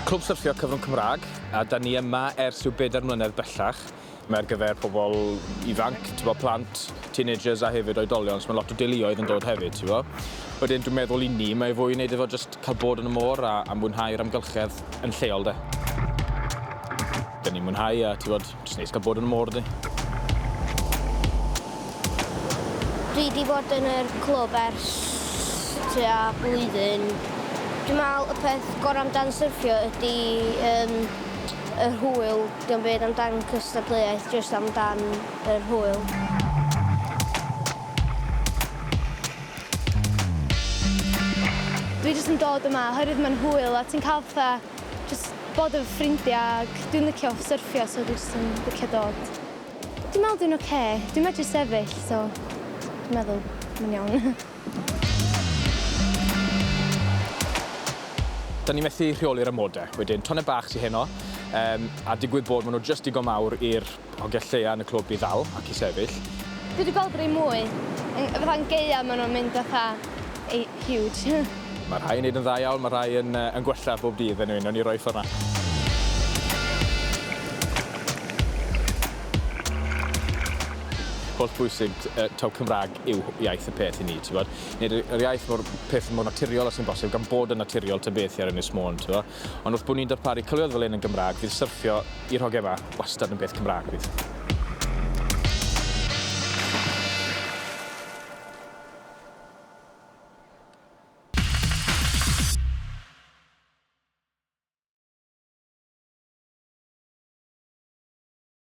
Clwb Syrthio Cyfrwng Cymraeg, a da ni yma ers rhyw bedair mlynedd bellach. Mae ar gyfer pobl ifanc, ti'n bod, plant, teenagers a hefyd oedolion, so mae lot o deuluoedd yn dod hefyd, ti'n bod. Wedyn dwi'n meddwl i ni, mae fwy i wneud efo just cael bod yn y môr a, a mwynhau'r amgylchedd yn lleol de. Da ni'n mwynhau a ti fod, jyst neis cael bod yn y môr di. Dwi di bod yn yr clwb ers tua blwyddyn. Dwi'n meddwl y peth gorau amdan syrffio ydy um, yr hwyl. Dwi'n byd amdan cystadleuaeth, jyst amdan yr hwyl. Dwi jyst yn dod yma oherwydd mae'n hwyl a ti'n cael fatha Jyst bod efo ffrindiau ac dwi'n licio syrffio so dwi jyst yn licio dod. Dwi'n meddwl dwi'n ocê, dwi'n medru sefyll so dwi'n meddwl mae'n iawn. Dan ni methu rheoli'r amode. Wedyn, tonnau bach sy heno, a digwydd bod maen nhw jyst digon mawr i'r Ond gell lleia yn y clwb i ddal ac i sefyll. Dwi di gweld rei mwy. Fatha yn gaea ma nhw'n mynd fatha ei huge. Mae rhai yn neud yn dda iawn, mae rhai yn yy yn gwella bob dydd yn un, newn ni roi ffor na. Holl bwysig yy taw Cymrag yw iaith y peth i ni t'bod? Neud y yr iaith mor peth mor naturiol a sy'n bosib gan bod yn naturiol ta beth i ar Ynys Môn t'bo? Ond wrth bo' ni'n darparu cyfleoedd fel hyn yn Gymraeg, fydd syrffio i'r hogia 'ma wastad yn beth Cymraeg, bydd.